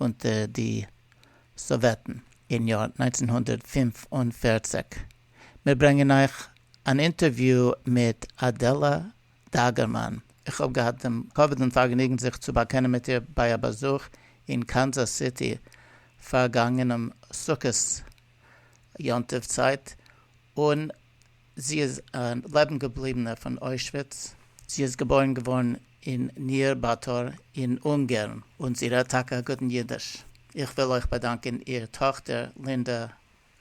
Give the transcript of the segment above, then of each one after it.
אונטער די סאוועטן אין יאר נײַנצן הונדערט פֿינף און פֿערציק. מיר ברענגען אייך אן אינטערוויו מיט אדעלע דאגערמאן. איך האב געהאט דעם כבוד און פארגעניגן זיך צו באקענען מיט איר ביי א באזוך אין קאנזאס סיטי פארגאנגענעם סוכות יום טוב צייט, און. זי איז א לעבן געבליבענע פון אוישוויץ, זי איז געבוירן געווארן אין ניר באטור אין אונגערן און זי רעדט טאקע א גוטן אידיש. איך וויל אויך באדאנקען איר טאכטער לינדע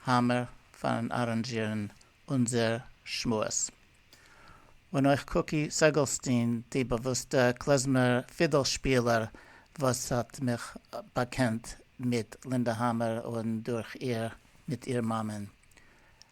האמער פארן אראנזשירן אונזער שמועס. און אויך קוקי סעגעלסטין די באוואוסטע קלעזמער פידל שפילער וואס האט מיך באקענט מיט לינדע האמער און דורך איר מיט איר מאמען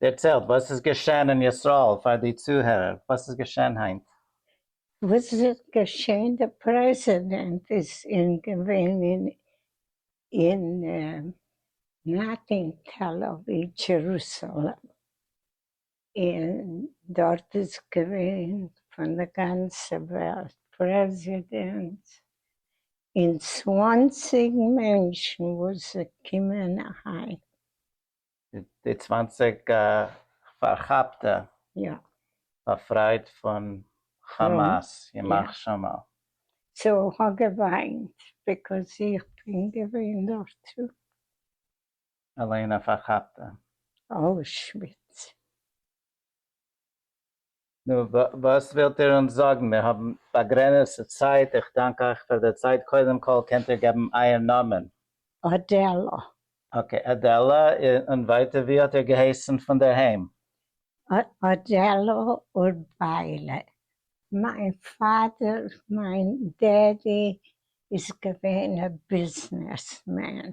דערציילט וואס איז געשען אין ישראל פאר די צוהערער, וואס איז געשען היינט? וואס איז געשען די פרעזידענט איז אין געווען אין אין נאט אין תל אביב דזשערוסאלעם אין דארט איז געווען פון די גאנצע וועלט פרעזידענטס אין צוואנציג מענטשן וואס זיי קומען אהיים די צוואַנציק פארכאפטע באפרייט פון כאמאס, ימח שמו. צו כ'האב געוויינט ביקאוז איך בין געווען דארט טו. אליין א פארכאפטע. אוישוויץ. נו, וואס ווילט איר אונז זאגן? מיר האבן באגרעניצטע צייט, איך דאנק אייך פאר די צייט, קודם כל קענט איר געבן אייער נאמען? אדעלא. אקעי, אדעלא, און ווייטער ווי האט איר געהייסן פונדערהיים? אדעלא אורביילה, מיין פאדער, מיין דעדי, איז געווען א ביזנעסמען.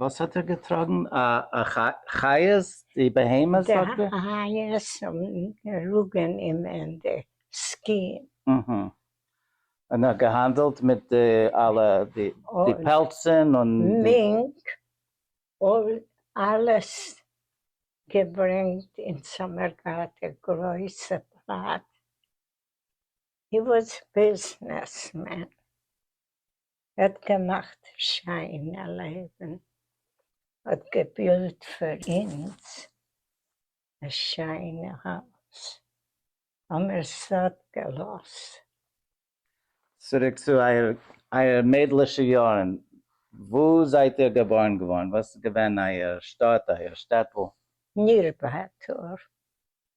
וואס האט ער געטראגן? א חיות? די בהמות זאגט ער? די חיות האבן געראגען אים אין די סקין. אהה. און ער האט געהאנדעלט מיט די אלע די פעלצען און. מינק, אלעס געברענגט אין סאמערגאט א גרויסע פלאץ. הי וואס ביזנעס מען. ער האט געמאכט שיינע לעבן, האט געבילט פאר אונז א שיינע הויז, האמער סאט געלאזט. צוריק צו אייער מיידלישע יארן, וואו זייט איר געבארן געווארן? וואס איז געווען אייער שטאט, אייער שטעטל? נירבאטור,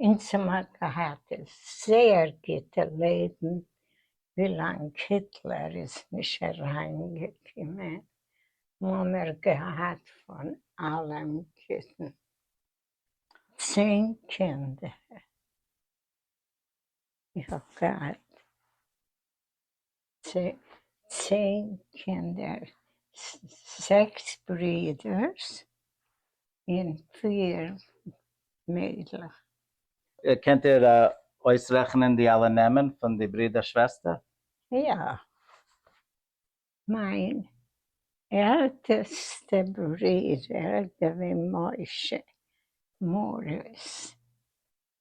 אונז האבן געהאט זייער גוטע לעבן ווילאנג היטלער איז נישט אריינגעקומען האמער געהאט פון אלעם גוטן צען קינדער איך האב געהאט צען קינדער, זעקס ברידערס און פיר מיידלעך. קענט איר אויסרעכענען די אלע נעמען פון די ברידער שוועסטער? יא. מיין עלטעסטע ברידער דבי משה מאריס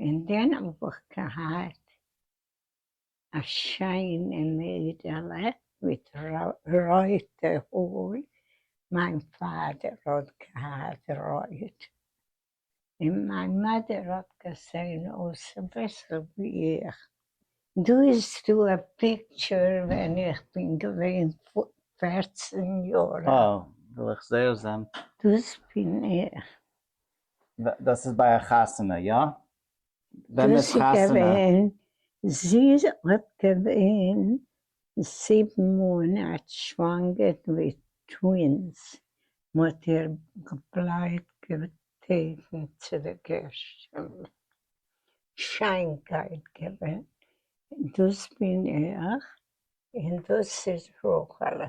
און דען האב איך געהאט א שיינע מיידעלע מיט רויטע האר, מיין פאדער האט געהאט רויט, און מיין מאדער האט געזען אויס אביסל ווי איך. דא איז דא א פיקטשער ווען איך בין געווען פֿערצן יאר אלט. וואו, וויל איך זייער זען. דאס בין איך, דאס איז ביי א חתונה יא? ווען איז חתונה? זי האט געווען זיבן מאנאט שוואנגער מיט טווינס, מ'האט איר געבלייבט געבעטן צו די געשטן, שיינקייט געווען, דאס בין איך און דאס איז רחל'ע.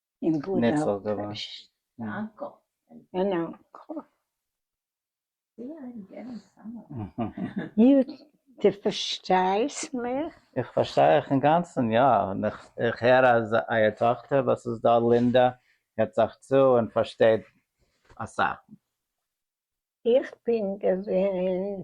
ניצול געווארן. איך פארשטיי אייך אינגאנצן, יא, איך הער אז אייער טאכטער וואס איז דא לינדא הערט זיך צו און פארשטייט אסאך. איך בין געווען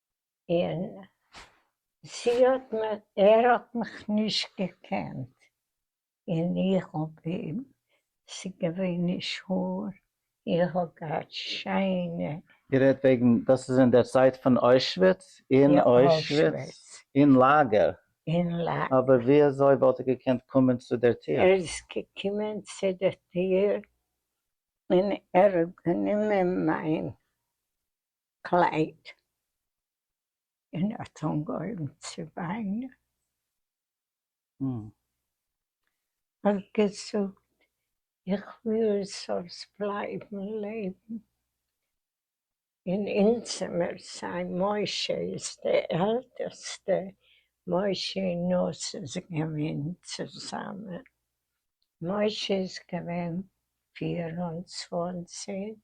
און זי האט מיר, ער האט מיך נישט געקענט, און איך האב אים, ס'געווען נישט האר, איך האב געהאט שיינע. איר רעדט וועגן, דאס איז אין דער צייט פון אוישוויץ? אין אוישוויץ. אין לאגער. אין לאגער. אבער ווי אזוי וואלט ער געקענט קומען צו דער טיר? ער איז געקומען צו דער טיר, און ער האט גענומען מיין קלייד, און ער האט אנגעהויבן צו וויינען, און האט געזאגט, איך וויל זאלסט בלייבן לעבן אין אונזער זיין, משה איז די עלטערסטע, משה און נאס איז געווען צוזאמען, משה איז געווען פֿיר און צוואַנציק,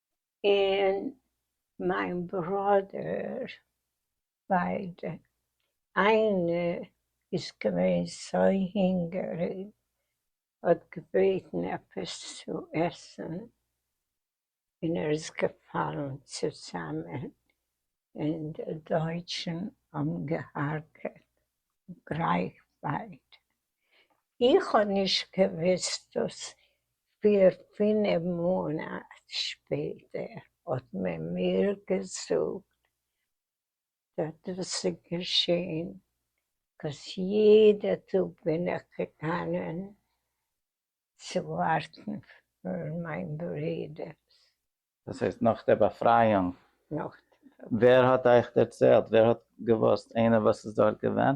און מיין ברודער ביידע, איינע איז געווען סוי הינגעריג האט געבעטן עפעס צו עסן און ער איז געפאלן צוזאמען און די דויטשן האבן געהארגעט גרייך ביידע. איך האב נישט געוויסט דאס פֿיר פינעף מאנאט שפעטער האט מען מיר געזאגט אז דאס איז געשען קויז יעדע טאג בין איך געגאנען צו ווארטן פאר מיין ברודער. דאס הייסט נאך דער באפרייאונג? נאך דער באפרייאונג. ווער האט אייך דערציילט? ווער האט געוואוסט? איינער וואס איז דארט געווען?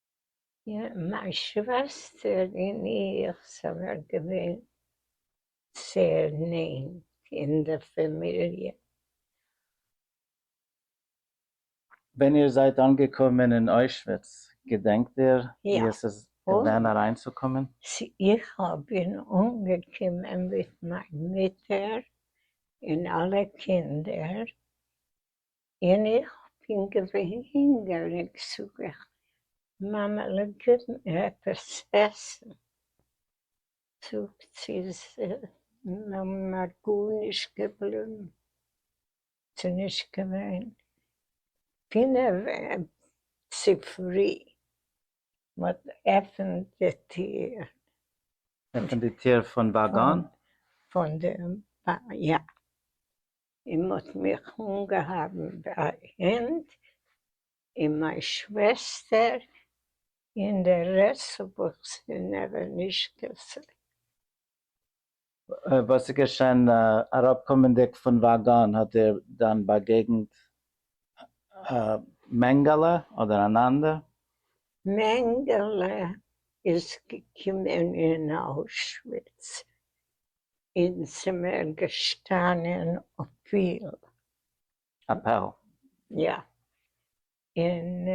מיין שוועסטער און איך זענען געווען זייער נענט אין די פאמיליע. ווען איר זייט אנגעקומען אין אוישוויץ, געדענקט איר ווי עס איז געווען אריינצוקומען? איך בין אנגעקומען מיט מיין מוטער און אלע קינדער און איך בין געווען הינגעריג זאג איך מאמע'לע גיב מיר עפעס עסן, זאגט זי ס'נאר גארנישט געבליבן, ס'נישט געווען פינעף צופרי, מ'האט געעפענט די טיר. עפענט די טיר פון וואגאן? פון די, יא. און מען האט מיך אנגעהאבן ביי הענט, און מיין שוועסטער, און די רעסט האב איך זיי נעבעך נישט געזען. וואס איז געשען? אראפקומענדיג פון וואגאן האט איר דאן באגעגנט א מענגעלע אדער אן אנדער? מענגעלע איז געקומען אין אוישוויץ, און ס'מיר געשטאנען אפיל. א פאל. יא. און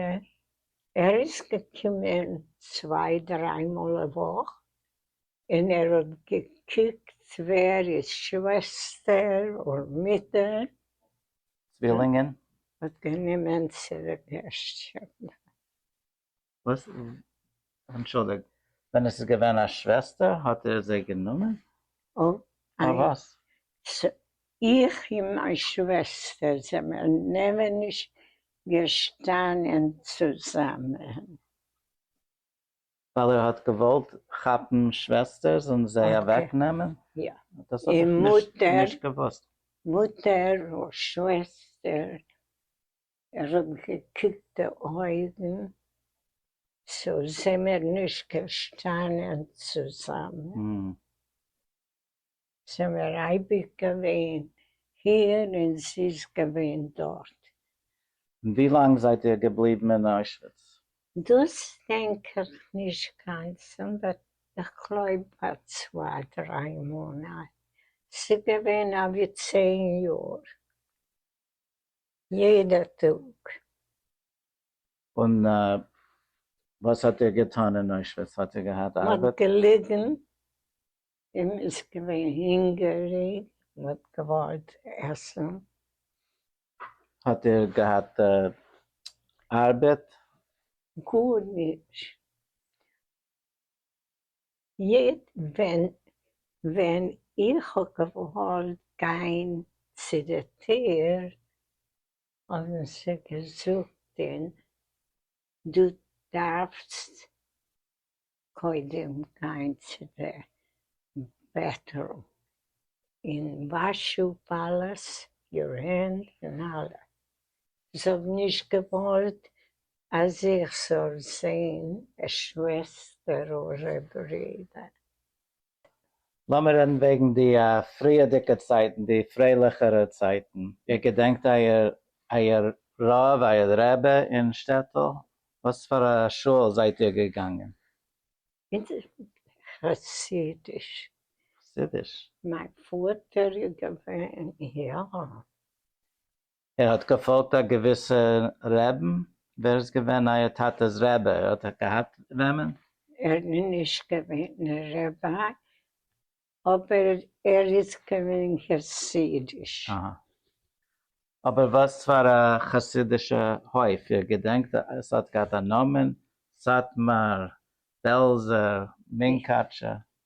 ער איז געקומען צוויי דריי מאל א וואך, און ער האט געקוקט ווער איז שוועסטער און מוטער. צווילינגען. האט גענומען צו די געשט. וואס? אנטשולדיגט, ווען עס איז געווען א שוועסטער האט ער זי גענומען? אויף וואס? איך און מיין שוועסטער זעמיר נעמער נישט געשטאנען צוזאמען. ווייל ער האט געוואלט כאפן שוועסטערס און זיי אוועק נעמען? יא. דאס האב איך נישט געוואוסט. מוטער און שוועסטער ער האט געקוקט די אויגן, צו זעמער נישט געשטאנען צוזאמען? זעמער אייביג געווען היער און זי איז געווען דארט. און ווי לאנג זייט איר געבליבן אין אוישוויץ? דאס דענק איך נישט גאנצן, באט איך גלויב א צוויי דריי מאנאט, ס'געווען אבי צען יאר. יעדער טאג. און וואס האט ער געטאן אין אוישוויץ? האט ער געהאט ארבעט? מ'האט געליגן און מ'איז געווען הונגעריג, מ'האט געוואלט עסן. האט ער געהאט ארבעט? גארנישט. יעדן ווען ווען איך האב געוואלט גיין צו די טיר האבן זיי געזאגט דו דארפסט קודם גיין צו די בעטרום און וואש אפ אלעס יור הענד און אלע זיך נישט געוואלט אז איך זאל זעהן א שוועסטער אדער א ברודער. לאמיר רעדן וועגן די פריערדיגע צייטן, די פרייליכערע צייטן. איר געדענקט אייער רב, אייער רעבע אין שטעטל? וואס פאר א שוהל זייט איר געגאנגען? חסידיש. חסידיש? מיין פאטער איז געווען, יא. ער האט געפאלגט א געוויסע רעבן? ווער איז געווען אייער טאטע'ס רעבע? ער האט געהאט וועמען? ער איז נישט געווען א רעבע, אבער ער איז געווען חסידיש. אהא. אבער וואס פאר א חסידישע הויף? איר געדענקט עס האט געהאט א נאמען? סאטמאר? בעלזער? מונקאטשער?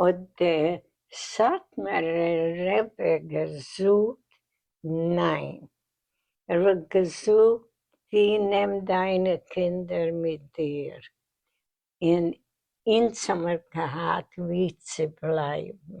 האט דער סאטמארער רב געזאגט ניין, ער האט געזאגט די נעם דיינע קינדער מיט דיר, און אונז האמיר געהאט ווי צו בלייבן.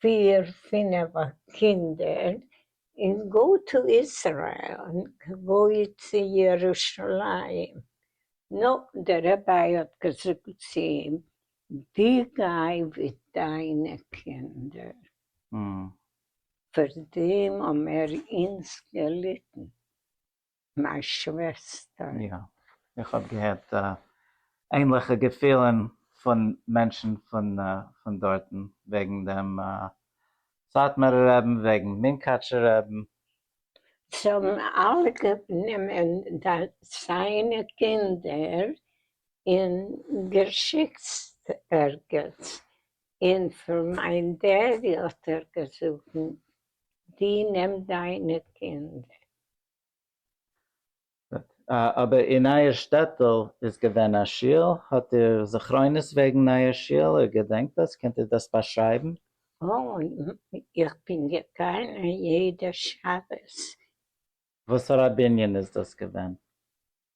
פיר פינעף קינדער און גא טו איזרעיל און גא צו ירושלים נא דער רבי האט געזאגט צו אים די גיי ווי דיינע קינדער פאר דעם האבן מיר אונז געליטן מיין שוועסטער. יא, איך האב געהערט ענליכע געפילן פון מענטשן פון דארטן וועגן דעם סאטמארער רעבן, וועגן מונקאטשער רעבן. זיי האבן אלע גענומען זיינע קינדער און געשיקט ערגעץ, און פאר מיין דעדי האט ער געזאגן, דו נעם דיינע קינדער. אבער אין אייער שטעטל איז געווען א שול? האט איר זכרונות וועגן אייער שול? איר געדענקט דאס? קענט איר דאס באשרייבן? איך בין געגאנען יעדע שבת. וואסארא בנין איז דאס געווען?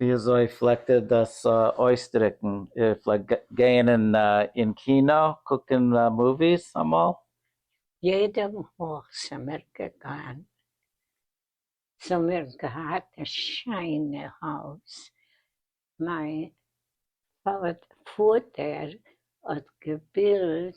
ווי אזוי פלעגט ער דאס אויסדריקן? ער פלעגט גייען אין קינא קוקן מאוויס אמאל? יעדע וואך ס'מיר געגאנגען. ס'מיר געהאט א שיינע הויז. מיין פאטער האט געבילט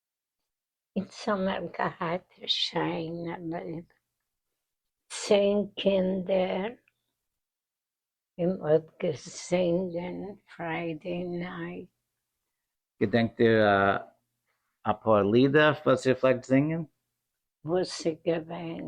אונז האמער געהאט א שיינע לעבן, צען קינדער, און מ'האט געזינגען פריידעי נייט. געדענקט איר אפאר לידער וואס איר פלעגט זינגען? וואס איז געווען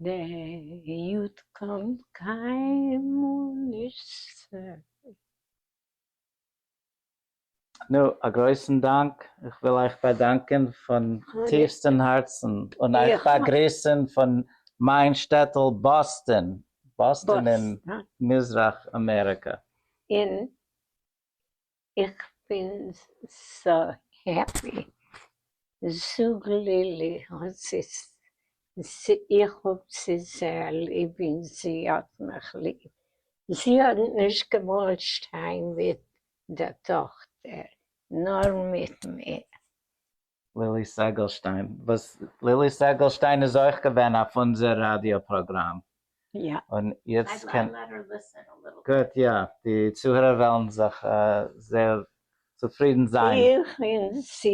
די יוד קען קיינמאל נישט. נו, א גרויסן דאנק, איך וויל אייך באדאנקען פון טיפסטן הארצן און אייך באגריסן פון מיין שטעטל באסטן, באסטן אין מזרח אמעריקא. און איך בין סאו העפי, זאג לילי האט זיס, איך האב זי זייער ליב אין זי האט מיך ליב, זי האט נישט געוואלט שטיין מיט דער טאכטער נאר מיט מיר, לילי סעגעלשטיין וואס לילי סעגעלשטיין איז אויך געווען אויף אונזער ראדיא פראגראם און יעצט קען גוט יא די צוהערער וועלן זיך זייער צופרידן זיין. איך בין צו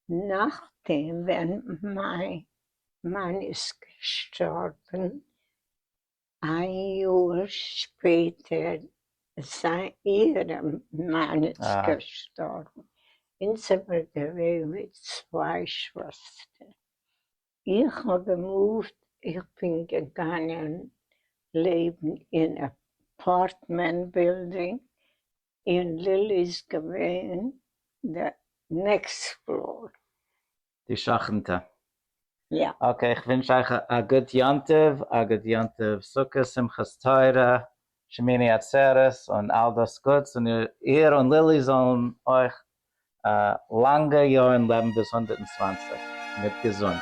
נאכדעם ווען מיין מאן איז געשטארבן איין יאר שפעטער איז איהר מאן איז געשטארבן און ס'איז געווען ווי צוויי שוועסטער. איך האב געמופט, איך בין געגאנגען לעבן אין אפארטמענט בילדינג און לילי איז געווען די נעקסט פלאר. די שכנ'טע. יא. אקעי, איך ווינטש אייך א גוט יום טוב, א גוט יום טוב סוכות, שמחת תורה, שמיני עצרת און אל דאס גוטס, און איר און לילי זאלן אויך לאנגע יארן לעבן ביז הונדערט און צוואַנציק מיט געזונט.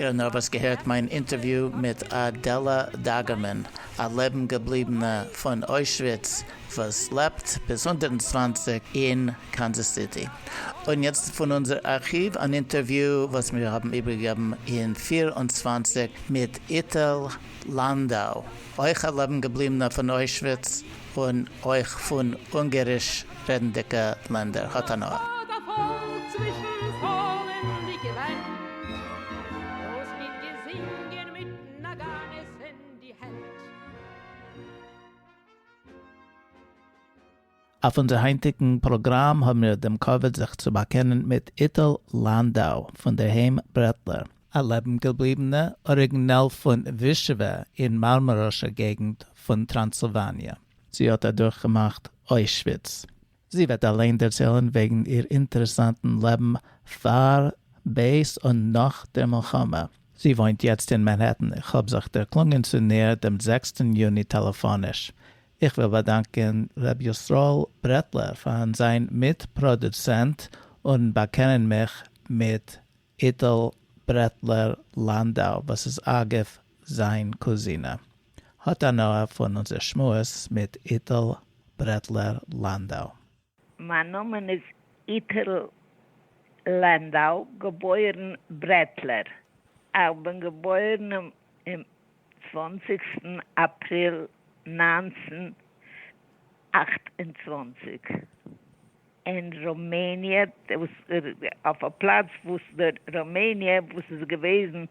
און אויב האסט געהערט מיין אינטערוויו מיט אדעלע דאגערמאן, א לעבן געבליבענע פון אוישוויץ וואס לעבט ביז הונדערט און צוואַנציק אין קאנזעס סיטי, און יעצט פון אונזער ארכיוו אן אינטערוויו וואס מיר האבן איבערגעגעבן אין פֿיר און צוואַנציק מיט איטל לאנדאו, אויך א לעבן געבליבענע פון אוישוויץ, און אויך פון אונגעריש רעדנדיקע לענדער האט הנאה. אויף אונזער היינטיקן פראגראם האבן מיר דעם כבוד זיך צו באקענען מיט איטל לאנדאו פון דער היים ברעטלער. א לעבן-געבליבענע אריגינעל פון ווישעווע אין מארמאראשער געגנט פון טראנסילוואניע. זי האט אדורכגעמאכט אוישוויץ. זי וועט אליין דערציילן וועגן איר אינטערעסאנטן לעבן פאר, בעת און נאך דער מלחמה. זי וואוינט יעצט אין מאנהעטן. איך האב זיך דערקלונגען צו ניר דעם זעקסטן יוני טעלעפאניש. איך וויל באדאנקען ר' ישראל ברעטלער פאר'ן זיין מיט-פראדוצענט און באקענען מיך מיט איטל ברעטלער לאנדאו, וואס איז אגב זיין קוזינע, האט הנאה פון אונזער שמועס מיט איטל ברעטלער לאנדאו. מיין נאמען איז איטל לאנדאו, געבוירן ברעטלער. איך בין געבוירן אום צוואנציגסטן אפריל נײַנצן אַכט און צוואַנציק. אין ראמעניע, אויף א פלאץ וואס די ראמעניע וואס איז געוועזן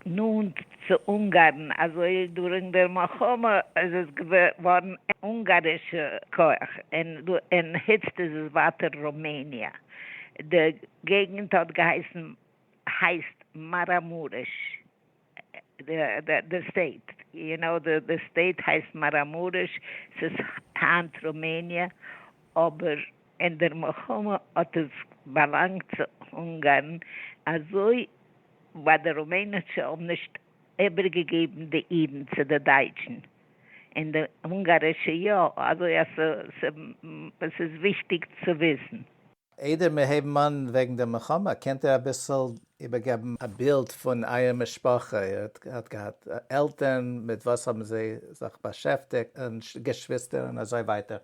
נאנט צו אונגארן, אזוי דורינג דער מלחמה איז עס געווארן אונגארישע כח, און היצט איז עס ווייטער ראמעניע. די געגנט האט געהייסן, הייסט, מאראמוריש. די סטעיט, יו נאו, די סטעיט הייסט מאראמורעש, ס'איז היינט רומעניע, אבער אין דער מלחמה האט עס באלאנגט צו אונגארן, אזוי ווייל די רומענישע האבן נישט איבערגעגעבן די אידן צו די דייטשן, און די אונגארישע יא, אזוי אז ס'איז וויכטיג צו וויסן. איידער מיר הייבן אן וועגן דער מלחמה, קענט איר אביסל איבערגעבן א בילד פון אייער משפחה, איר האט געהאט עלטערן, מיט וואס האבן זיי זיך באשעפטיגט, און געשוויסטער און אזוי ווייטער.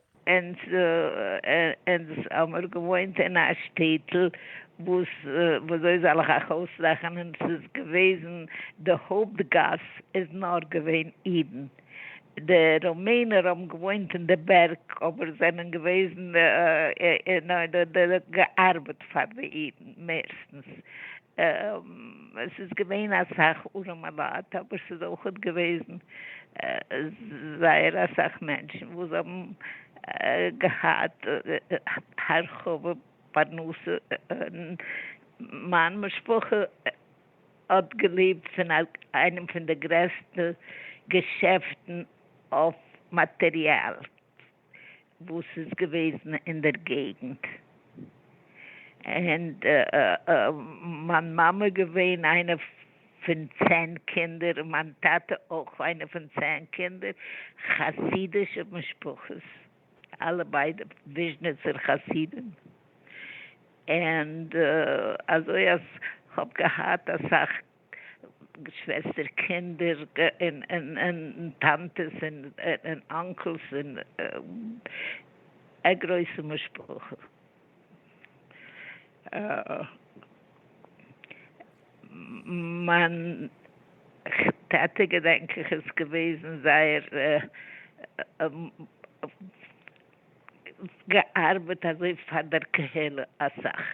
אונז האמיר געוואוינט אין א שטעטל וואס וויאזוי זאל איך אייך אויסרעכענען, ס'איז געוועזן די הויפט גאס איז נאר געווען אידן, די ראמענער האבן געוואוינט אין די בערג אבער זענען געוועזן אין אדער געארבעט פאר די אידן מערסטנס. עס איז געווען אסאך ארעמע לייט אבער ס'איז אויך געוועזן זייער אסאך מענטשן וואס האבן געהאט הרחבה פרנסה און מיין משפחה. האט געלעבט פון איינעם פון די גרעסטע געשעפטן אויף מאטעריאל וואס איז געוועזן אין דער געגנט, און מיין מאמע איז געווען איינע פון צען קינדער, און מיין טאטע אויך איינע פון צען קינדער, חסידישע משפחות. אלע ביידע וויזשניצער חסידים, ענד אזוי אז כ'האב געהאט אסאך געשוועסטער קינדער און טאנטעס און אנקלס און א גרויסע משפחה. מיין טאטע געדענק איך איז געוועזן זייער געארבעט אזוי פאר דער קהלה אסאך.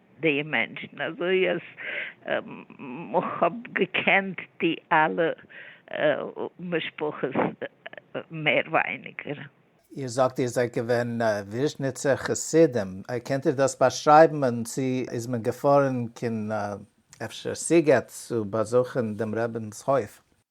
די מענטשן אזוי אז כ'האב געקענט די אלע משפחות מער ווייניגער. איר זאגט איר זענט געווען וויזשניצער חסידים, קענט איר דאס באשרייבן און צו איז מען געפארן קיין אפשר סיגעט צו באזוכן דעם רבינ'ס הויף?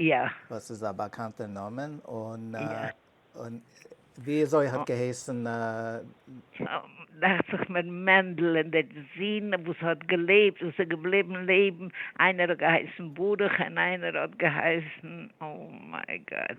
יא. וואס איז א באקאנטע נאמען און וויאזוי האט געהייסן. דאכט זיך מיר מענדל און דער זון וואס האט געלעבט וואס איז געבליבן לעבן איינער האט געהייסן ברוך און איינער האט געהייסן אוי מיי גאד.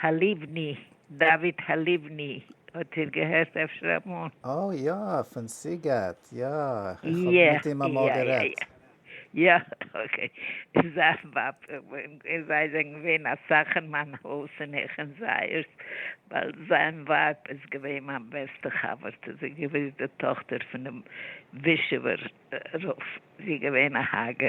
הלבני, דוד הלבני, האט איר געהערט אפשר אמאל? אה יא, פון סיגעט, יא, איך האב מיט אים אמאל גערעדט. יא, אקעי, זיין ווייב, זיי זענען געווען אסאך אין מיין הויז און איך אין זייערס, ווייל זיין ווייב איז געווען מיין בעסטע חבר'טע, זי איז געווען די טאכטער פונעם ווישעווער רב, זי איז געווען א הגה.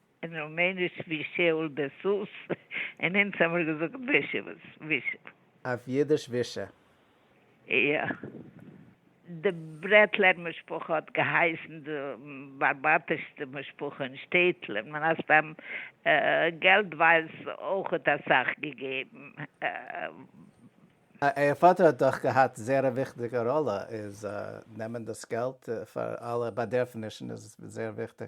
און רומעניש ווי שאול דער סוס, און אונז האמיר געזאגט ווישע וואס ווישע. אויף אידיש ווישע. יא. די ברעטלער משפחה האט געהייסן די בארבאטישסטע משפחה אין שטעטל, און מן הסתם געלט ווייל ס אויכעט אסאך געגעבן. אייער פאטער האט דאך געהאט זייער א וויכטיגע ראלע, איז נעמען דאס געלט פאר אלע באדערפענישן איז זייער וויכטיג.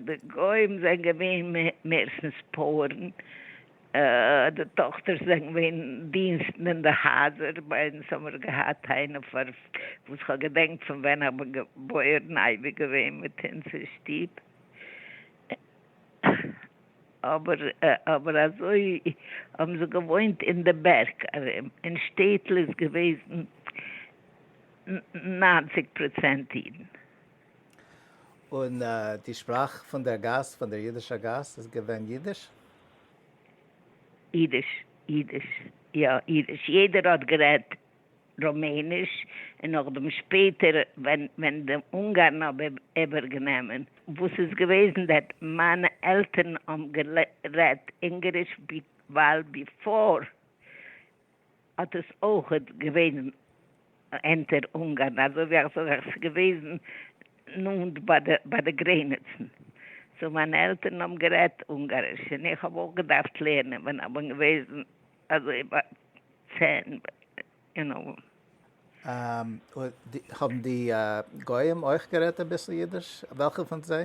די גוים זענען געווען מערסטנס פויערן, די טאכטערס זענען געווען דינסטן אין די הייזער, ביי אונז האבן מיר געהאט איינע וואס כ'האב געדענקט פון ווען איך בין געבוירן אייביג געווען מיט אונז אין שטוב, אבער אזוי האבן זיי געוואוינט אין די בערג ארום, אין שטעטל איז געוועזן ניינציג פראצענט אידן. און די שפראך פון דער גאס, פון דער אידישער גאס, איז געווען אידיש? אידיש, אידיש, יא, אידיש. יעדער האט גערעדט רומעניש, און נאכדעם שפעטער ווען ווען די אונגארן האבן איבערגענומען, וואס איז געוועזן דעט מיינע עלטערן האבן גערעדט אונגעריש ווייל ביפאר האט עס אויך געווען אונטער אונגארן, אזוי ווי איך זאג עס איז געוועזן נאנט ביי די גרעניצן, סאו מיינע עלטערן האבן גערעדט אונגאריש און איך האב אויך געדארפט לערנען ווען איך בין געוועזן אזוי ביי צען יו נאו. האבן די גוים אויך גערעדט אביסל אידיש? וועלכע פון זיי?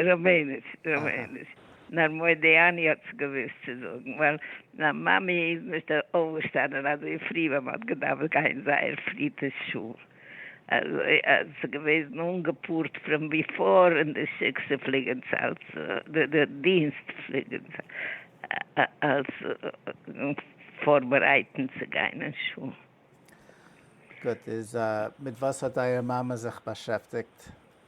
רבנות, רבנות. נאר מודיעני האט עס געוואוסט צו זאגן, ווייל זיין מאמי איז נישט אויפגעשטאנען אזוי פרי ווען מען האט געדארפט גיין זייער פרי צו שול, אזוי אז עס איז געוועזן אנגעפארט פרום ביפאר און די שיקסע פליגען צו אלס די דינסט פליגען צו אלס פארבערייטן צו גיין אין שול. גוט, איז מיט וואס האט אייער מאמע זיך באשעפטיגט?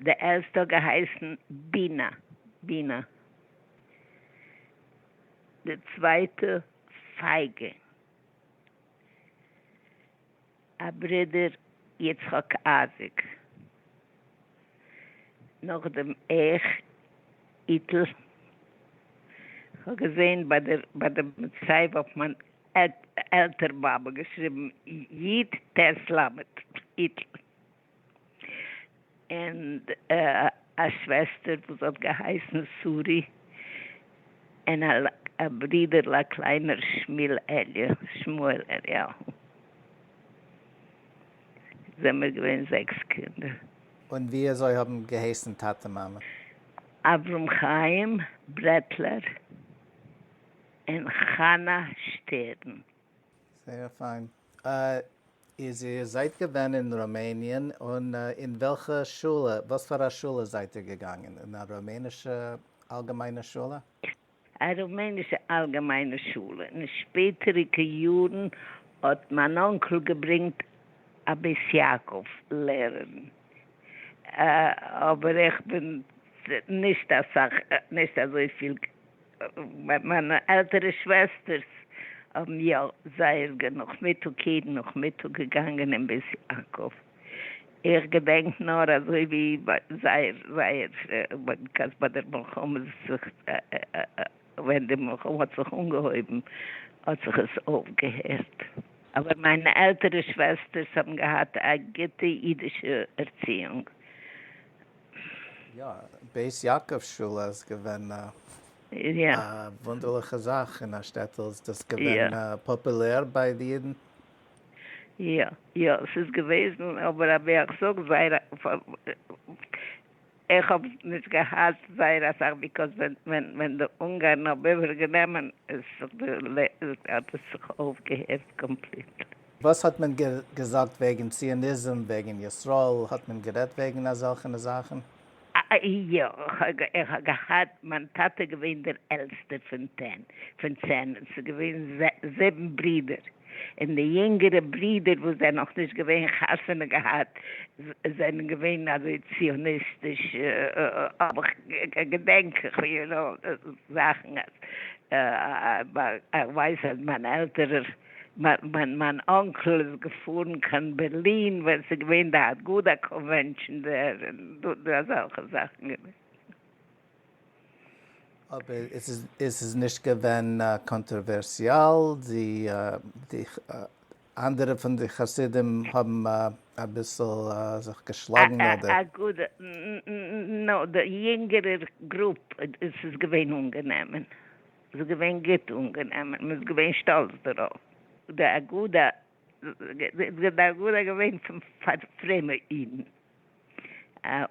די ערשטע האט געהייסן בינה, Bina, די צווייטע פייגא, א ברודער יצחק אייזיק, נאכדעם איך, איטל, כ'האב געזען ביי די מצבה אויף מיין עלטער באבע געשריבן יט ט למד איטל. און א שוועסטער וואס האט געהייסן שרי, און א ברודער'ל א קליינער שמואל אליהו, זעמיר געווען זעקס קינדער. און ווי אזוי האבן געהייסן טאטע מאמע? אברהם חיים ברעטלער און חנה שטערן. זייער פיין. איז איר זייט געווען אין רומעניען און אין וועלכע שולע, וואס פאר א שולע זייט איר געגאנגען, אין א רומענישע אלגעמיינע שולע? א רומענישע אלגעמיינע שולע, אין שפעטעריגע יארן האט מיין אנקל געברענגט א בית יעקב לערערין, אבער איך בין נישט אסאך נישט אזויפיל מיינע עלטערע שוועסטערס האבן יא זייער נאכמיטאג יעדן נאכמיטאג געגאנגען אין בית יעקב, איך געדענק נאר אזוי ווי זייער זייער כעס ביי דער מלחמה זיך ווען די מלחמה האט זיך אנגעהויבן האט זיך עס אויפגעהערט, אבער מיינע עלטערע שוועסטערס האבן געהאט א גוטע אידישע ערציאונג. יא, בית יעקב שולע איז געווען א וואונדערליכע זאך אין א שטעטל, איז דאס געווען פאפולער ביי די אידן? יא, יא, ס'איז געוועזן, אבער אבי איך זאג זייער איך האב נישט געהאט זייער אסאך ביקורת ווען די אונגארן האבן איבערגענומען האט עס זיך אויפגעהערט קאמפליטלי. וואס האט מען געזאגט וועגן ציוניזם, וועגן ישראל, האט מען גערעדט וועגן אזעלכענע זאכן? יא, איך האב געהאט, מיין טאטע איז געווען דער עלטסטער פון צען, עס איז געווען זיבן ברידער, און די יונגערע ברידער וואס זענען נאך נישט געווען חתונה געהאט, זענען געווען אזוי ציוניסטיש, האב איך, געדענק איך יו נאו, זאכן, איך ווייס אז מיין עלטערער מיין אנקל איז געפארן קיין בערלין ווען ס'איז געווען די אגודה קאנווענשאן דער און דא אזעלכע זאכן. אבער עס איז נישט געווען קאנטראווערסיאל, די אנדערע פון די חסידים האבן אביסל זיך געשלאגן אדער. אגודה, נאר די יונגערער גרופ, עס איז געווען אנגענומען. ס'איז געווען גוט אנגענומען, מ'איז געווען שטאלץ דערויף. די אגודה איז די אגודה געווען פון פאר פרומע אידן, א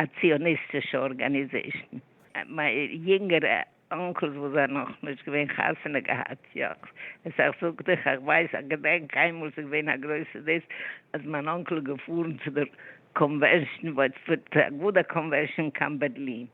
א ציוניסטישע ארגאניזעישן. מיין יונגערע אנקלס וואס זענען נאך נישט געווען חתונה געהאט יאך, עס איך זאג דיך איך ווייס איך געדענק איינמאל ס'איז געווען א גרויסע דאס אז מיין אנקל איז געפארן צו דער קאנווענשן, די אגודה קאנווענשן קיין בערלין,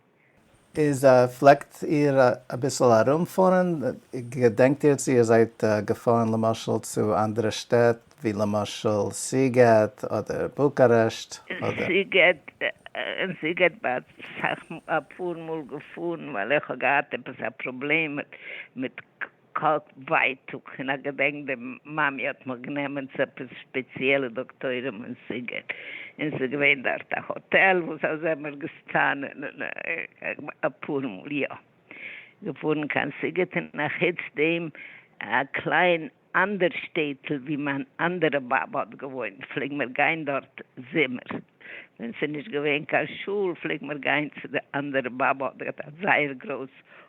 איז פלעגט איר אביסל ארום פארן? געדענקט איר צו איר זייט געפארן למשל צו אנדערע שטעט ווי למשל סיגעט אדער בוקארעשט אדער. סיגעט, אין סיגעט בין איך אסאך אפאר מאל געפארן ווייל איך האב געהאט עפעס א פראבלעם מיט. קאפ ווייטאג פון א געדענק די מאמי האט מיך גענומען צו עפעס שפעציעלע דאקטוירים אין סיגעט און ס'איז געווען דארט א האטעל וואס אז זעמער געסטאנען און אפאר מאל יא געפארן קיין סיגעט און אחוץ דעם א קליין אנדער שטעטל ווי מיין אנדערע באבע האט געוואוינט פלעג מיר גיין דארט זומער ווען ס'איז נישט געווען קיין שול פלעג מיר גיין צו די אנדערע באבע האט געהאט א זייער גרויס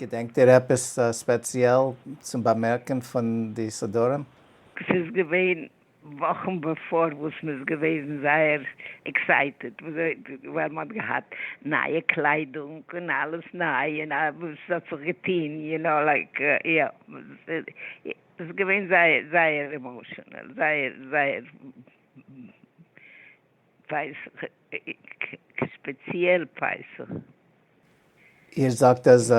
געדענקט איר עפעס ספעציעל צום באמערקען פון די סדרים? ס'איז געווען וואכן בעפאר וואס מ'איז געוועזן זייער עקסייטעד ווייל מ'האט געהאט נייע קליידונג און אלעס ניי און וואס ס'האט זיך געטוהן יו נאו לייק יא ס'איז געווען זייער זייער עמאשענעל זייער זייער. פסח איז ספעציעל פסח. איר זאגט אז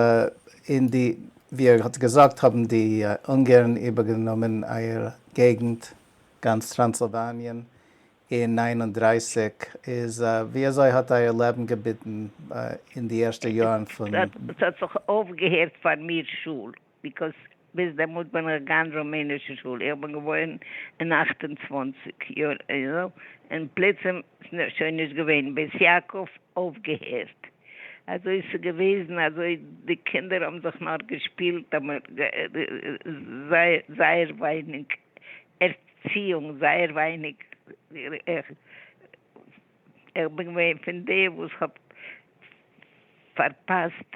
אין די ווי איר האט געזאגט האבן די אונגערן איבערגענומען אייער געגנט גאנץ טראנסילוואניען אין נײַן און דרײַסיק איז ווי אזוי האט אייער לעבן געביטן אין די ערשטע יארן פון. ס'האט זיך אויפגעהערט פאר מיר שול. ביקאוס ביז דעמאלט בין איך געגאנגען רומענישע שול, איך בין געווארן אין אַכט און צוואַנציק יאר איידל, און פלוצים איז שוין נישט געווען, בית יעקב אויפגעהערט, אזוי איז עס געוועזן, אזוי די קינדער האבן זיך נאר געשפילט, זייער ווייניג ערציאונג, זייער ווייניג, איך בין געווען פון די וואס האט פארפאסט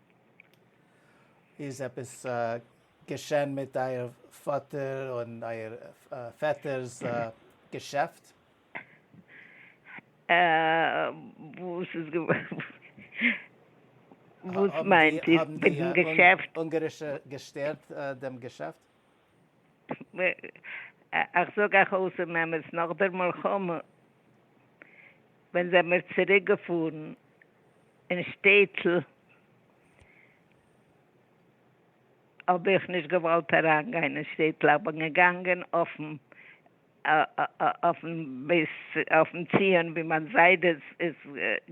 איז עפעס געשען מיט אייער פאטער און אייער פעטער'ס געשעפט? וואס איז געווארן? וואס מיינט איר מיטן געשעפט? האבן די אונגארישע געשטערט דעם געשעפט? איך זאג אייך אויס און אמת, נאך דער מלחמה ווען זעמיר צוריק געפארן אין שטעטל האב איך נישט געוואלט אריין גיין אין שטעטל, איך בין געגאנגען אויפן. אויפן בית אויפן ציון ווי מיין זיידע איז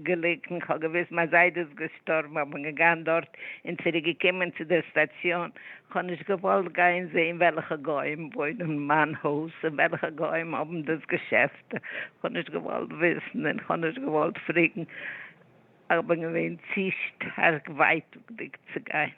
געליגן, כ'האב געוויסט מיין זיידע איז געשטארבן, כ'בין געגאנגען דארט און צוריק געקומען צו דער סטאציאן, כ'האב נישט געוואלט גיין זעהן וועלכע גוים וואוינען אין מיין הויז און וועלכע גוים האבן דאס געשעפט, כ'האב נישט געוואלט וויסן און כ'האב נישט געוואלט פרעגן, כ'בין געווען צו שטארק ווייטאגדיג צו גיין.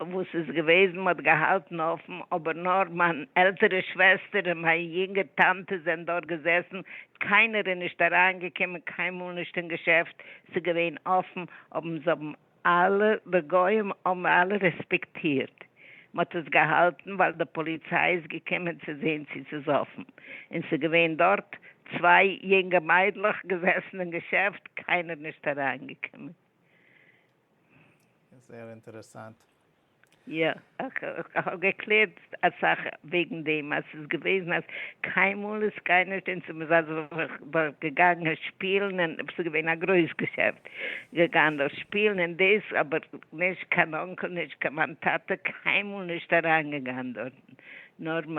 וואס איז געוועזן מען האט געהאלטן אפן אבער נאר מיין עלטערע שוועסטער און מיין יונגע טאנטע זענען דארט געזעסן קיינער איז נישט אריין געקומען קיינמאל נישט אין געשעפט ס'איז געווען אפן האבן זיי האבן אלע די גוים האבן אלע רעספעקטירט מען האט עס געהאלטן ווייל די פאליציי איז געקומען צו זעהן צו ס'איז אפן און ס'איז געווען דארט צוויי יונגע מיידלעך געזעסן אין געשעפט קיינער נישט אריין געקומען. זייער אינטערעסאנט. יא, איך האב געקלערט אסאך וועגן דעם, אז ס'איז געוועזן אז קיינמאל איז קיינער שוין צו מזרח דארט געגאנגען שפילן, און ס'איז געווען א גרויס געשעפט, געגאנגען דארט שפילן און דאס, אבער נישט קיין אנקל, נישט קיין מיין טאטע, קיינמאל נישט אריינגעגאנגען דארטן, נאר מ.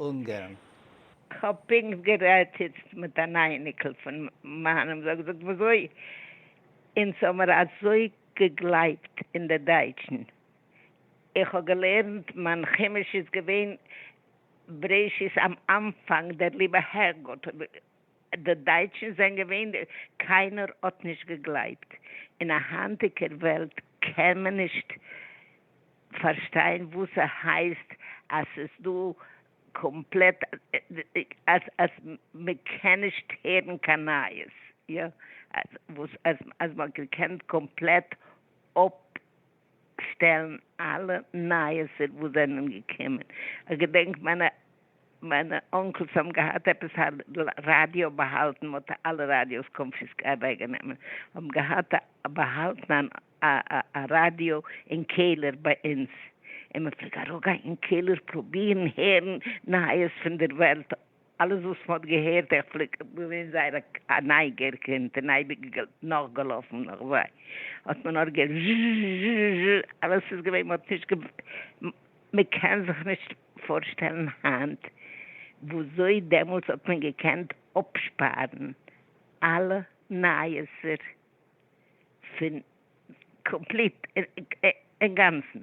אונגערן. כ'האב פונקט גערעדט איצט מיט אן אייניקל פון מיינעם, זאג זאגט וויאזוי אונז האמער אזוי געגלייבט אין די דייטשן, איך האב געלערנט מיין חומש איז געווען בראשית אםאנפאנג דער ליבער הערגוט. די דייטשן זענען געווען די. קיינער האט נישט געגלייבט. אין א היינטיגער וועלט קען מען נישט פארשטיין וואס ס'הייסט אז ס'איז דא קאמפלעט אז מ'קען נישט הערן קיין נייעס, יא, וואס אז מ'האט געקענט קאמפלעט אפ. שטעלן אלע נייעסער וואס זענען געקומען, איך געדענק מיינע מיינע אנקלס האבן געהאט עפעס א ראדיא באהאלטן, מען האט אלע ראדיאס קאנפיסק אוועק גענומען, האבן געהאט באהאלטן א א ראדיא אין קעלער ביי אונז, און מען פלעג אראפגיין אין קעלער פרובירן הערן נייעס פון דער וועלט, אלעס וואס מ'האט געהערט איך פלעג געווען זייער א נייגער קינד און אייביג נאכגעלאפן נאך זיי האט מען נאר געהערט זשזשזשזזש אלעס איז געווען מ'האט נישט גע מ'קען זיך נישט פארשטעלן היינט וואזוי דעמאלטס האט מען געקענט אפשפארן אלע נייעסער פון קאמפליט אינגאנצן.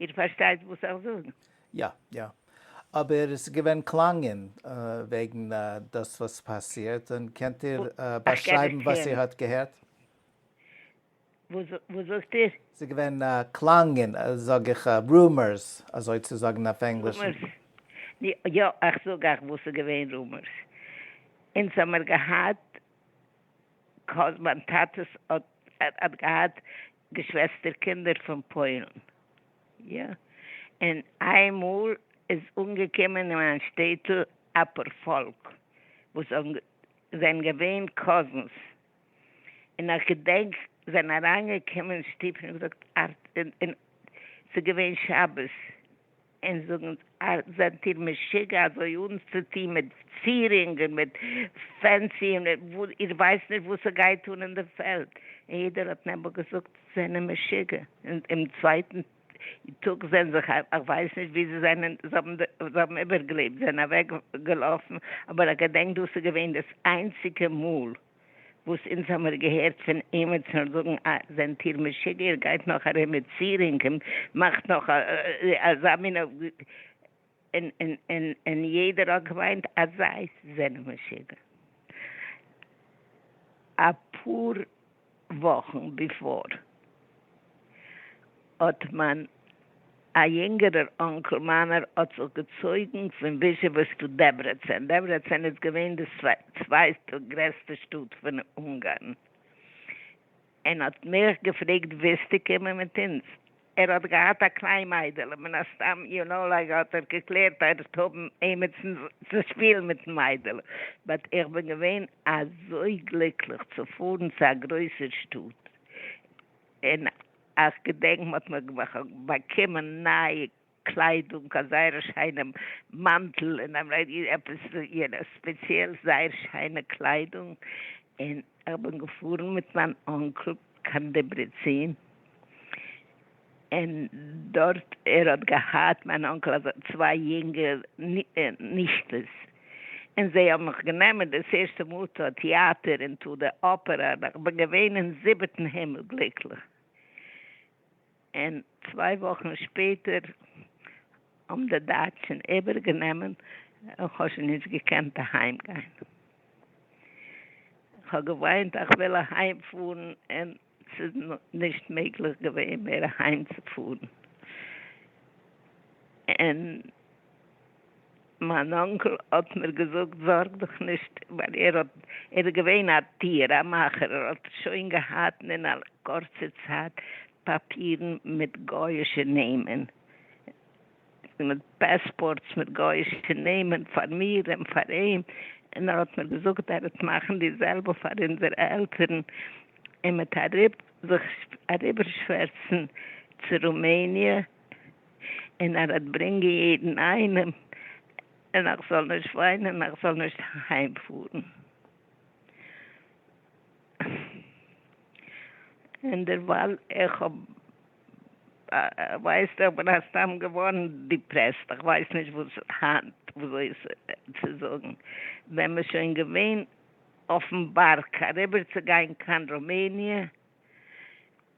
איר פארשטייט וואס איך זאג? יא, יא. אבער עס איז געווען קלאנגען וועגן דאס וואס פאסירט, און קענט איר באשרייבן וואס איר האט געהערט? וואס זאגט איר? ס'איז געווען קלאנגען, זאג איך, רומערס, אזוי צו זאגן אויף ענגליש. רומערס? יא, איך זאג אייך וואס ס'איז געווען רומערס. אונז האמיר געהאט קאזינס, מיין טאטע האט געהאט געשוועסטער קינדער פון פוילן, יא, און איין מאל איז אנגעקומען אין מיין שטעטל אפאר פאלק וואס זענען געווען קאזינס. און איך געדענק זענען אריינגעקומען אין שטוב און געזאגט ארט און ס'איז געווען שבת און זאגן אונז ארט זענט איר משוגע אזוי אנצוטוהן מיט צירונג און מיט פענסי און איר ווייסט נישט וואס ס'גייט אן אין די פעלד און יעדער האט נעבעך געזאגט זענען משוגע און אום צווייטן די טאג זעהן זיך אויף, איך ווייס נישט ווי זיי זענען, זיי האבן איבערגעלעבט, זיי זענען אוועק געלאפן, אבער איך געדענק דאס איז געווען דאס איינציגע מאל וואס אונז האמיר געהערט פון עימיצן זאגן אה, זענט איר משוגע, איר גייט נאך ארום מיט צירונגען, מאכט נאך אזא מין. און און און און יעדער האט געמיינט אז זיי זענען משוגע. אפאר וואכן ביפאר האט מיין א יונגערער אנקל מיינער האט זיך געצויגן פון וויזשעוועס צו דעברעצען, דעברעצען איז געווען די צווייטע גרעסטע שטאט פון אונגארן, און האט מיך געפרעגט ווילסטו קומען מיט אונז? ער האט געהאט א קליין מיידעלע, מן הסתם יו נאו לייק האט ער געקלערט ער וועט האבן עימיצן צו שפילן מיטן מיידעלע, באט איך בין געווען אזוי גליקליך צו פארן צו א גרויסער שטאט, און איך געדענק מ'האט מיר באקומען נייע קליידונג א זייער שיינע מאנטל און א עפעס יו נאו ספעציעל זייער שיינע קליידונג און איך בין געפארן מיט מיין אנקל קיין דעברעצין און דארט ער האט געהאט מיין אנקל אזא צוויי יונגע נישטעס און זיי האבן מיך גענומען דאס ערשטע מאל טו א טיאטער און טו די אפערא און איך בין געווען אין זיבעטן הימל גליקליך. און צוויי וואכן שפעטער האבן די דייטשן איבערגענומען, און כ'האב שוין נישט געקענט אהיימגיין. כ'האב געוויינט אז כ'וויל אהיימפארן, און ס'איז נישט מעגליך געווען מער אהיימצופארן. און מיין אנקל האט מיר געזאגט זארג דיך נישט ווייל ער האט ער איז געווען א טיר א מאכער ער האט שוין געהאט אין א קורצע צייט פאפירן מיט גויאישע נעמען מיט פעספארטס מיט גויאישע נעמען פאר מיר און פאר אים און ער האט מיר געזאגט ער וועט מאכן די זעלבע פאר אונזערע עלטערן און מ'עט אריב זיך אריבער שווערצן צו רומעניע. און ער וועט ברענגען יעדן איינעם, און איך זאל נישט וויינען, און איך זאל נישט אהיימפארן. און דערווייל איך האב, ווייסט, איך בין סתם געווארן דיפרעסט, איך ווייס נישט וואס היינט וויאזוי צו זאגן, ווען מ'איז שוין געווען אויפן בארג אריבערצוגיין קיין ראמעניע,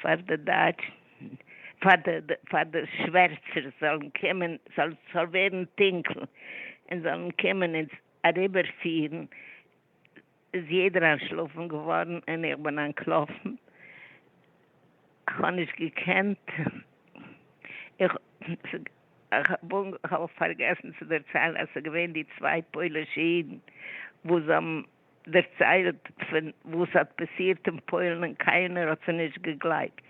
פאר די דייטשן, פאר די שווערצער זאלן קומען, ס'זאל ווערן טונקל, און זאלן קומען אונז אריבערפירן, איז יעדער אנטשלאפן געווארן, און איך בין אנטלאפן, כ'האב נישט געקענט, כ'האב פארגעסן צו דערציילן אז ס'איז געווען די צוויי פוילישע אידן וואס האבן דערציילט פון וואס האט פאסירט אין פוילן און קיינער האט זיי נישט געגלייבט,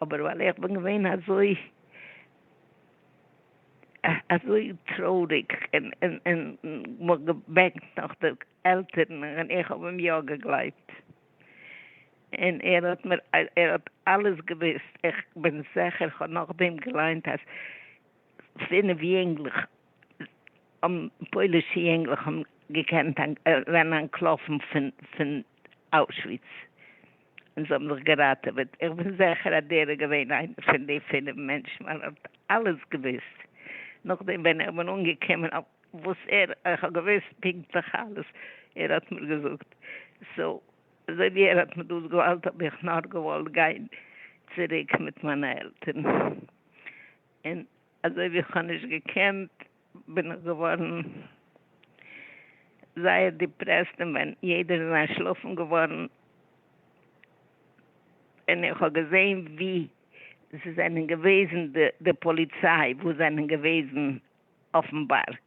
אבער ווייל איך בין געווען אזוי אזוי טרויעריג און און מ'האט געבענקט נאך די עלטערן און איך האב אים יא געגלייבט און ער האט מיר ער האט אלעס געוואוסט, איך בין זעכער כ'האב נאכדעם געליינט אז פינף יונגלעך האבן פוילישע יונגלעך האבן געקענט אריין אנטלאפן פון אוישוויץ און זיי האבן זיך געראטעוועט, איך בין זעכער אז דער איז געווען איינער פון די פינף מענטשן ווייל ער האט אלעס געוואוסט, נאכדעם ווען איך בין אנגעקומען אויף וואס ער, איך האב געוואוסט פונקטליך אלעס, ער האט מיר געזאגט, סאו אזוי ווי ער האט מיר דאס געוואלט האב איך נאר געוואלט גיין צוריק מיט מיינע עלטערן און אזוי ווי כ'האב נישט געקענט בין איך געווארן זייער דיפרעסט און ווען יעדער איז אנטשלאפן געווארן און איך האב געזעהן ווי ס'זענען געוועזן די פאליציי וואס זענען געוועזן אויפן בארג.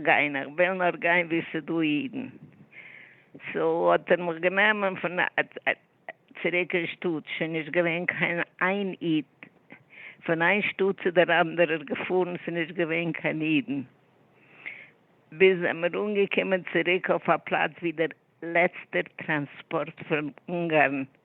גיין, איך וויל נאר גיין ווי ס'דא אידן, סאו האט ער מיך גענומען פון צוריק אין שטאט, שוין נישט געווען קיין איין איד, פון איין שטאט צו דער אנדערער געפארן, ס'איז נישט געווען קיין אידן, ביז זעמיר אנגעקומען צוריק אויף א פלאץ ווי דער לעצטער טראנספארט פון אונגארן איז.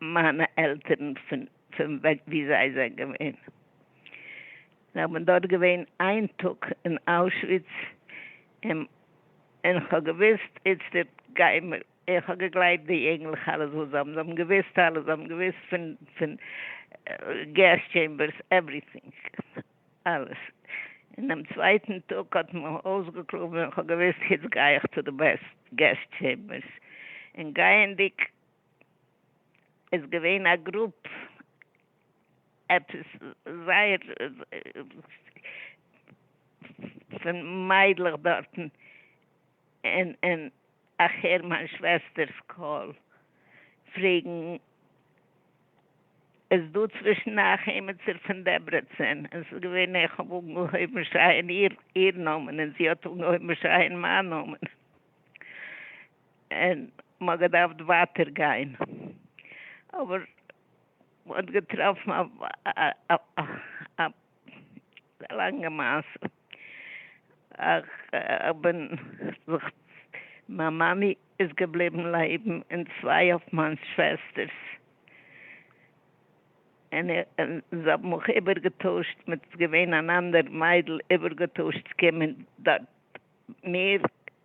מיינע עלטערן פון פון ווי זיי זענען געווען, זיי האבן דארט געווען איין טאג אין אוישוויץ, און און כ'האב געוואוסט איצטערט גיימער, און כ'האב געגלייבט די אינגלעך אלעס וואס זיי האבן, זיי האבן געוואוסט אלעס, זיי האבן געוואוסט פון פון געזש טשעמבערס, עווריטינג, אלעס, אינעם צווייטן טאג האט מען אויסגעקלאבן און כ'האב געוואוסט היצט גיי איך צו די געזש טשעמבערס, און גייענדיג. איז געווען א גרופ עפעס זייער פון מיידלעך דארטן און און איך הער מיין שוועסטערס קול פרעגן איז דא צווישן אייך עימיצער פון דעברעצין און ס'איז געווען איך האב אנגעהויבן שרייען איר נאמען און זי האט אנגעהויבן שרייען מיין נאמען. און מ'האט געדארפט ווייטער גיין, אבער מ'האט געטראפן א לאנגע מעשה, כ'בין זיך, מיין מאמי איז געבליבן לעבן און צוויי אויף מיין שוועסטערס, און זיי האבן מיך איבערגעטוישט מיט, ס'איז געווען אן אנדער מיידל, איבערגעטוישט צו קומען דארט מיר.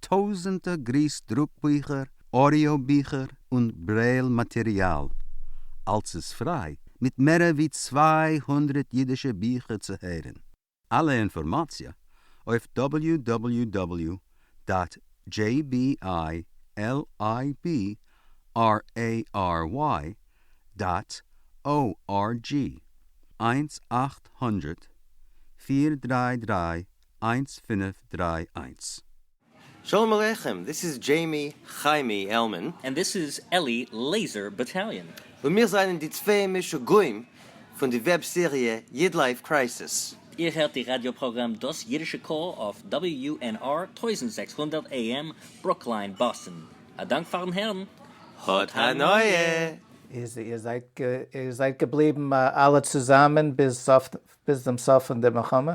טויזענטער גריס דרוק ביכער, אודיאו ביכער און ברעיל מאטעריאל, אלס איז פריי, מיט מערער ווי צוויי הונדרעט אידישע ביכער צו הערען. אלע אינפארמאציע אויף דאבעליו דאבעליו דאבעליו דאט דזשעי בי איי על איי בי אר עי אר וויי דאט או אר דזשי, איינס אַכט הונדערט פֿיר דרײַ דרײַ איינס פינף דריי איינס. שלום עליכם, דיס איז דזשעימי חיימי עלמען. און דיס איז אלי לעיזער באטאליאן. און מיר זענען די צוויי משוגעים פון די וועב סעריע איד לייף קרייסיס. איר הערט די ראדיא פראגראם דאס אידישע קול אויף WNR טויזנט זעקס הונדערט AM ברוקלין באסטן. א דאנק פארן הערן. האט הנאה! איר זייט איר זייט געבליבן אלע צוזאמען ביז סוף ביז דעם סוף פון די מלחמה?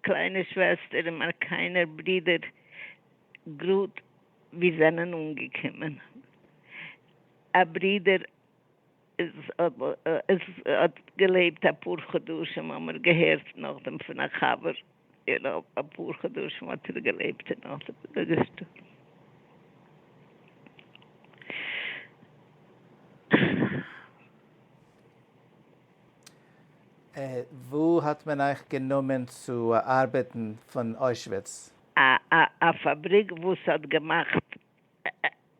קליינע שוועסטער און מיין קליינער ברודער גראד ווי זענען אנגעקומען, א ברודער איז האט געלעבט אפאר חדשים האמער געהערט נאכדעם פון א חבר און אויף אפאר חדשים האט ער געלעבט און נאכדעם איז ער געשטארבן. וואו האט מען אייך גענומען צו ארבעטן פון אוישוויץ? א פאבריק וואס האט געמאכט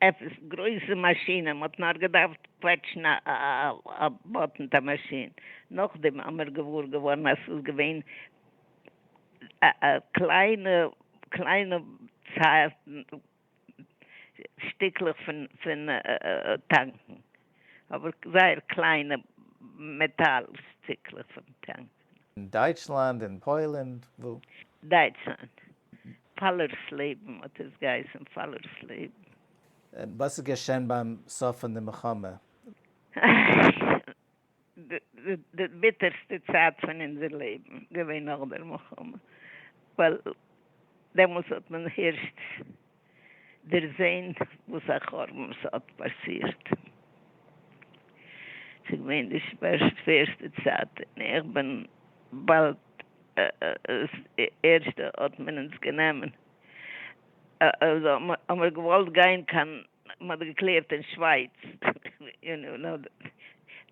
עפעס גרויסע מאשינען, מ'האט נאר געדארפט קוועטשן א באטן אויף א מאשין, נאכדעם האמיר געוואר געווארן אז ס'איז געווען קליינע קליינע צייטן שטיקלעך פון פון טאנקן, אבער זייער קליינע מעטאל שטיקלעך פון טאנקן. אין דייטשלאנד, אין פוילען, וואו? דייטשלאנד. פאלער'ס לעבן האט עס געהייסן, פאלער'ס לעבן. וואס איז געשען ביים סוף פון די מלחמה? די ביטערסטע צייט פון אונזער לעבן געווען נאך דער מלחמה, ווייל דעמאלס האט מען הערשט דערזען וואס א חורבן ס'האט פאסירט, ס'איז געווען די שווערסטע צייט, און איך בין באלד, ערשט האט מען אונז גענומען. האמער געוואלט גיין קיין מען האט געקלערט אין שווייץ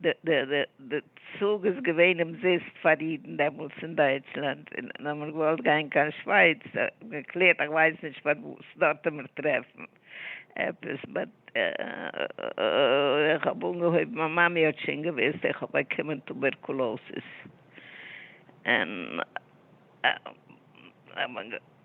די צוג איז געווען אומזיסט פאר אידן דעמאלטס אין דייטשלאנד און האמער געוואלט גיין קיין שווייץ געקלערט איך ווייס נישט פארוואס דארט האמער טרעפן עפעס באט איך האב אנגעהויבן מיין מאמי האט שוין געוויסט איך האב באקומען טובערקולאסיס און.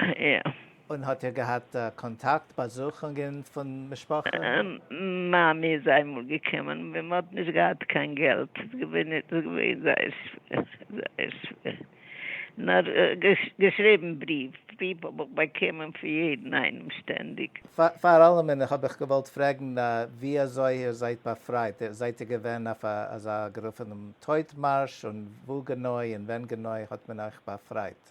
יא. און האט איר געהאט קאנטאקט, באזוכונגען פון משפחה? מאמי איז איינמאל געקומען ווען מען האט נישט געהאט קיין געלט, ס'איז געווען זייער שווער, זייער שווער, נאר געשריבן בריוו, בריוו האב איך באקומען פון יעדן איינעם שטענדיג. פאר אלעמען האב איך געוואלט פרעגן ווי אזוי איר זייט באפרייט, זייט איר געווען אויף א אזא גערופענעם טויט מארש, און וואו גענוי און ווען גענוי האט מען אייך באפרייט?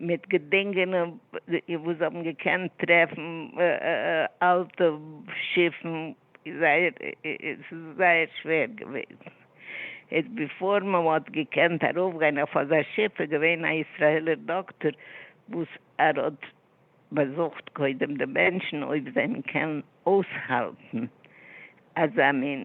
מיט געדינגענע וואס זיי האבן געקענט טרעפן, אלטע שיפן, זייער ס'איז זייער שווער געווען, איז ביפאר מען האט געקענט ארויפגיין אויף אזא שיף איז געווען א ישראלער דאקטאר וואס ער האט באזוכט קודם די מענטשן אויב זיי קענען אויסהאלטן אזא מין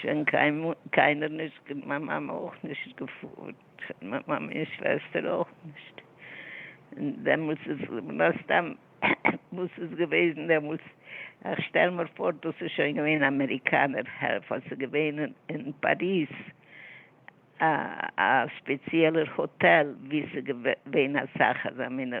שוין קיינער נישט געפ מיין מאמע אויך נישט געפארט מיין מאמע און שוועסטער אויך נישט און דעמאלטס איז מן הסתם וואס איז געוועזן דעמאלטס איך שטעל מיר פאר דאס איז שוין געווען אמעריקאנער העלפער ס'איז געווען אין פאריז א ספעציעלער האטעל ווי ס'איז געווען אסאך אזא מינע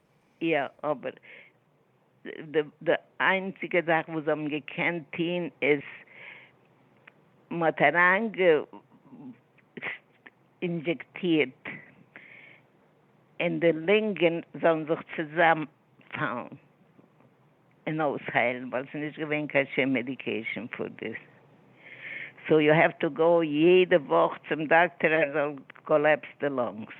יא, אבער די איינציגע זאך וואס זיי האבן געקענט טוהן איז מען האט אריין אינדזשעקטירט און די לונגען זאלן זיך צוזאם פאלן און אויסהיילן ווייל עס איז נישט געווען קיין שום מעדיקעישן פאר דאס, סאו יו העוו טו גאו יעדע וואך צום דאקטער אז ער זאל קאלעפס די לונגס.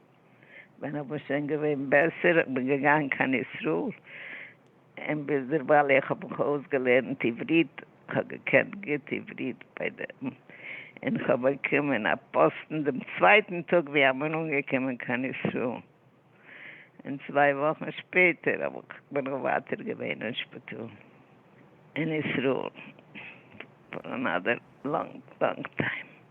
ווען איך בין שוין געווען בעסער, איך בין געגאנגען קיין ישראל, און ביז דערווייל איך האב מיך אויסגעלערנט עברית, איך האב געקענט גוט עברית ביי דעם, און איך האב באקומען א פאסטן דעם צווייטן טאג ווי איך בין אנגעקומען קיין ישראל, און צוויי וואכן שפעטער האב איך, בין איך ווייטער געווען אין שפיטאל אין ישראל פאר אנאדער לאנג לאנג טיים.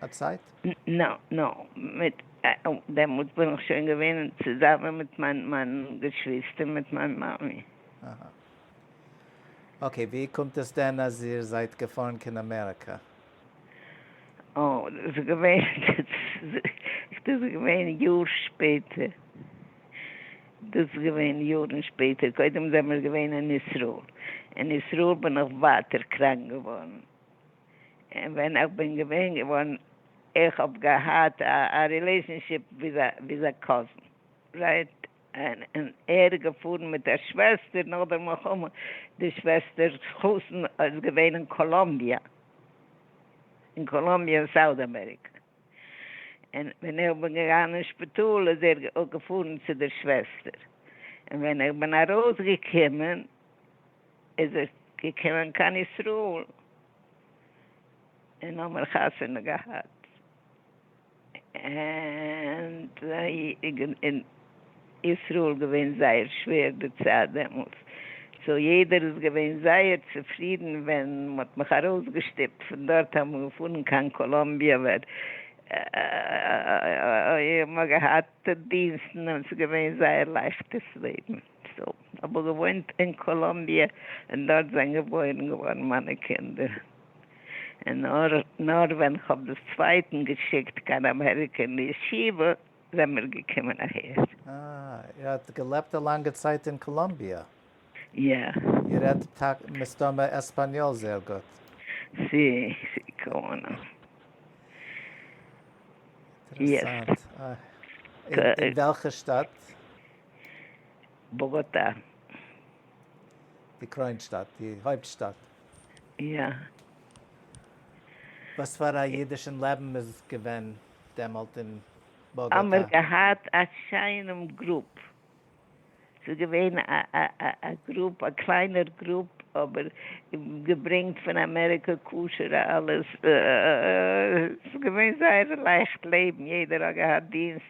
א צייט? נ, נ, מיט דעמאלטס בין איך שוין געווען צוזאמען מיט מיין מיין געשוויסטער מיט מיין מאמי. אהה. אקעי, ווי קומט עס דען אז איר זייט געפארן קיין אמעריקא? אה, דאס איז געווען, דאס איז געווען יאר שפעטער, דאס איז געווען יארן שפעטער, קודם זעמיר געווען אין ישראל, אין ישראל בין איך ווייטער קראנק געווארן. און ווען איך בין געווען געווארן איך האב געהאט א רילעישאנשיפ וויז א קאזין רייט און ער איז געפארן מיט א שוועסטער נאך די מלחמה די שוועסטערס חתן איז געווען אין קאלאמביע אין קאלאמביע אין סאוט אמעריקע און ווען איך בין געגאנגען אין שפיטאל איז ער געפארן צו די שוועסטער און ווען איך בין ארויס געקומען. איז ער געקומען קיין ישראל און האבן חתונה געהאט, און אין ישראל געווען זייער שווער די צייט דעמאלס, סאו יעדער איז געווען זייער צופרידן ווען מען האט מיך ארויסגעשטופט פון דארט אמאל פארן קיין קאלאמביע, ווען מען האט געהאט דינסטן און ס'איז געווען זייער לייכטערס לעבן. סאו, כ'האב געוואוינט אין קאלאמביע און דארט זענען געבוירן געווארן מיינע קינדער, און נאר ווען כ'האב דאס צווייטן געשיקט קיין אמעריקע אין ישיבה זעמיר געקומען אהער. אה, איר האט געלעבט א לאנגע צייט אין קאלאמביע. יא. איר רעדט טאקע מסתמא עספאניאל זייער גוט. סי, סי קאמאו. אינטערעסאנט. אין וועלכע שטאט? באגאטא. די קרוין שטאט, די הויפט שטאט. יא. וואס פאר א אידישן לעבן איז געווען דעמאלט אין באגאטא? האמער געהאט א שיינעם גרופ, ס'איז געווען א גרופ, א קליינער גרופ, אבער געברענגט פון אמעריקע כשר'ע אלעס, ס'איז געווען זייער לייכט לעבן, יעדער האט געהאט דינסט.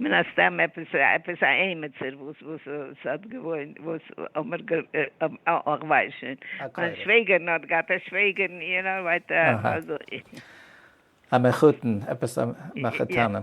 מן הסתם עפעס עפעס א עימיצער וואס וואס וואס האט געוואוינט וואס האמער גע איך ווייס שוין מיין שוועגערן האט געהאט א שוועגערן יו נאו ווייט אזוי. א מחותן עפעס א מחותנים.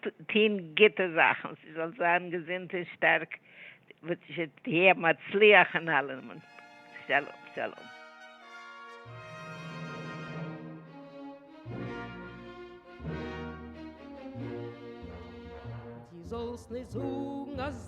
טוהן גוטע זאכן, זי זאל זיין געזונט און שטארק, ותהיה מצליח אין אלעם. שלום שלום. די זאלסט נישט זאגן אז.